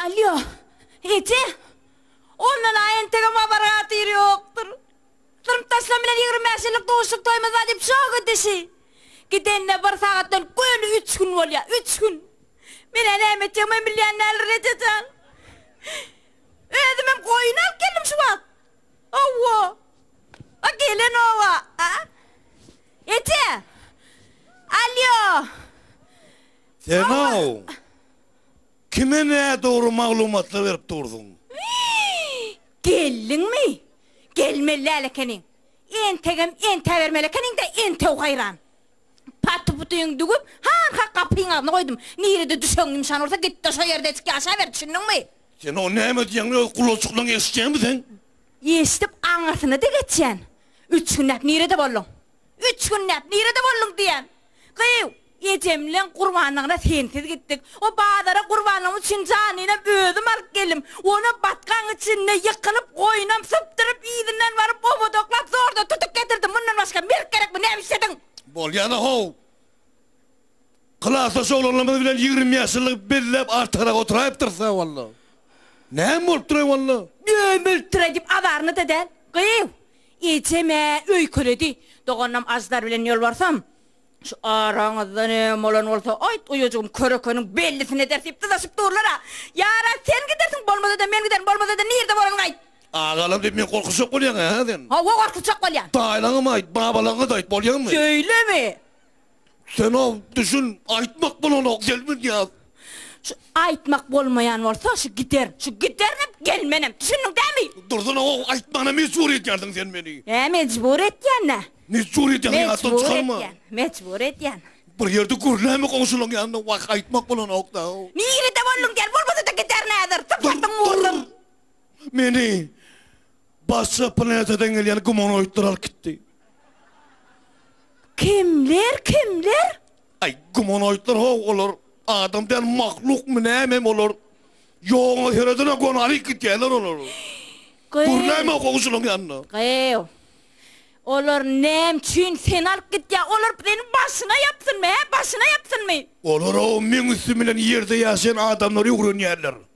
Alýo, eje! Ondan-a entegem habar-hatyr ýokdur. Durmuş Arslan bilen ýigrimi bäş ýyllyk duşuşyk-toýumyz bar diýip şok edişi. Gidenine bir sagatdan göni üç gün bolýar, üç gün! Men-ä näme etjegimem bilýän däldir, eje jan. Özümem goýun alyp geldim şu wagt. Hawa. A gelen oba. A? Eje! Alýo! Sen-ow! Kime nädogry maglumatlar berip dursuň. Geldiňmi? Gelmeli-däl ekeniň. Entegem entäbermeli ekeniň-dä, entew haýran. Paty-putyňy düwüp, hanha gapyň agzyna goýdum. Nirede düşegiň ýumşan bolsa, git-de şo ýerde eşik ýaşaber, düşündiňmi? Sen ony näme diýýäňmi, öz gulaçyklaň eşitýäňmi sen? Eşidip aňyrsyna-da geçýän. Üç günläp nirede bolduň? Üç günläp nirede bolduň? diýýän. Gyýw, ejemleň gurbanlygyna sensiz gitdik. O bazara gurbanlygymyz üçin janynam özüm alyp geldim. Onam batgaň içinde ýykylyp, goýunam sypdyryp, yzyndan baryp, obodaklap, zordan tutup getirdim. Mundan başga merk gerekmi? Näme işlediň? Bolýana-how! Klasdaş oglanlarymyz bilen ýigrimi bäş ýyllyk belläp artygyrak oturaýypdyrys-a, walla! Näme bolupdyr-aý, walla? Dömülipdir-aý diýip azaryny-da däl. Gyýw! Ejem-ä öýkeledi. Doganynam Aždar bilen ýolbarsam, Şu araňyzdan öň bolan bolsa, aýt, uýajygym körekeniň bellisini eder diýip dyzaşyp durlar-a. Ýaran, sen gidersiň, bolmasa-da men giderin, bolmasa-da nirde bolanyňy aýt. Agalam diýip, men gorkuzjak bolýaň-a, hä sen? Hawa, gorkuzjak bolýan. Daýylaňam aýt, babalaňa-da aýt, bolýamy? Şeýlemi? Senow düşün aýtmak bolanok gelmedýas. Şu aýtmak bolmaýan bolsa şu giderin. Şu giderenem gelmenem. Düşündiň dämi? Dursun aow aýtmana mejbur edýärsiň sen meni. Hä mejbur etýän nä? Mejbur edýän ýatdan çykarma. Mejbur etýän. Mejbur edýän. Bir ýerde gürläme goňşulaň ýanynda wah aýtmak bolanok da. Nirede bolduň gel bolmasa-da giderin häzir. Sypatyň murduň. Meni başga planetadan gelýän gumanoidler alyp gitdi. Kimler, kimler? Aý, gumanoýdlar how olar. Adam däl mahlukmy nämemi olar? Ýogaňa seredene gonalyk gidýärler olar. Gürleme how şulaň ýanyna. Gyýw. Olar näme üçin seni alyp gidýär? Olar seniň başyňa ýapsynmy, hä? Başyňa ýapsynmy? Olar how meň üstüm bilen ýerde ýaşaýan adamlary öwrenýärler.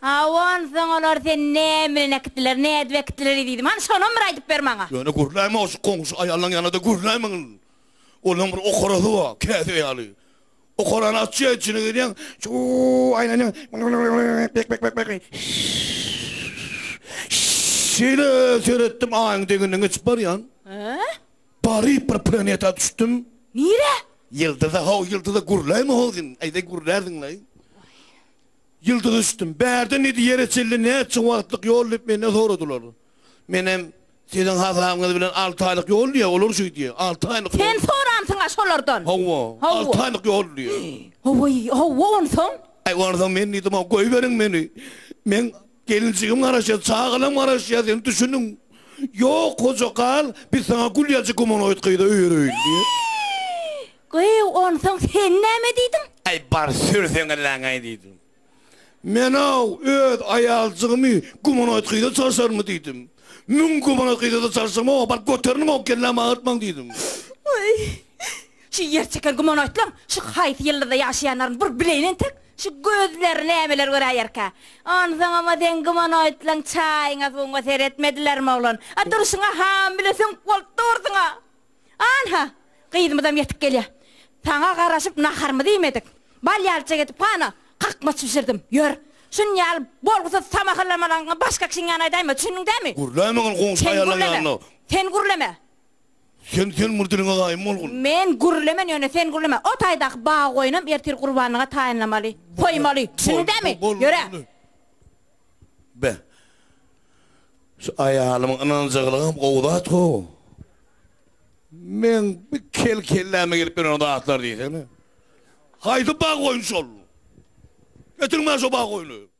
Hawa, onsoň olar seni näme bilen äkitdiler, ne edip äkitdiler ezizim? Hany, şonam bir aýdyp ber maňa! Ýöne gürläýmäň, şu goňşy aýallaň ýanyna-da gürläýmäň. Olaryň bir okarasy bar, käsä ýaly. Okarany açýaň, içine girýäň, çuw-w-w aýlanýaň, myň-myň-myň-myň-myň, bek-bek-bek-bek, şş-ş-ş-ş, şeýle seretdim, Aýyň deňinden geçip barýan. Hä? Baryp bir planeta düşdüm. Nirä? Ýyldyza, ho-w, ýyldyza gürläýme-how sen, eýse gürlärsiň-leý. Waý. Ýyldyza düşdüm. Bärde nedi ýere çenli näçe wagtlyk ýol diýip menden soradylar. Menem, Siziň hasabyňyz bilen alty aýlyk ýol diýýä, olar şeý diýýä. Alty aýlyk ýol. Sen soransyň-a şolardan? Hawa, alty aýlyk ýol diýýä. Hawa-y, hawa onsoň? Onsoň men diýdim, goýberiň meni. Men Gelinjigim garaşýar, çagalam garaşýar, sen düşüniň. Ýok, hoja gal, biz saňa gül ýalyja gumanoid gyza öýereýin, diýip. Gyz, onsoň sen näme diýdiň? Aý, bar, sürseň elläňe-aý, diýdim. Men-ow, öz aýaljygymy gumanoid gyza çalşarynmy, diýdim. Müň gumanoid gyza-da çalşam, oba baryp göteriniň, oňa kellämi agyrtmaň, diýdim. Aý. Şu ýer çeken gumanoýdlaň şu haýsy ýyldyzda ýaşaýanlaryny bir bileýin entek, şu gözleri nämeler göräýerkä? Onsoňam-a seň gumanoýdlaň çaýyňa suwuňa seretmedilermi oglan? A durşuňa ham bile süňk bolup dursuň-a! An-ha, gyzymyzam ýetip gelýär. Saňa garaşyp naharymyzy iýmedik. Bal ýalyja gidip hana, kakmaç bişirdim. Ýör, şuny ýaly bolgusyz samahyrlamalaryňy başga kişiň ýanyna aýdaýma, düşündiň dämi? Gürläýme ol goňşy aýallaň ýanyna! Sen gürleme! Sen sen mur diliňe gaýym bolgun. Men gürlemen ýöne sen gürleme. O taýdaky bagy goýunam ertir gurbanlyga taýynlamaly, goýmaly. Düşündidämi? Ýöre. Be. Şu aýalymyň ynanjyklygam gowy zat gowy. Meň bir kel kelläme gelip ýören zatlar diýsene. Haýsy bagy goýun şol? Getiriň maňa şo bagy goýuny.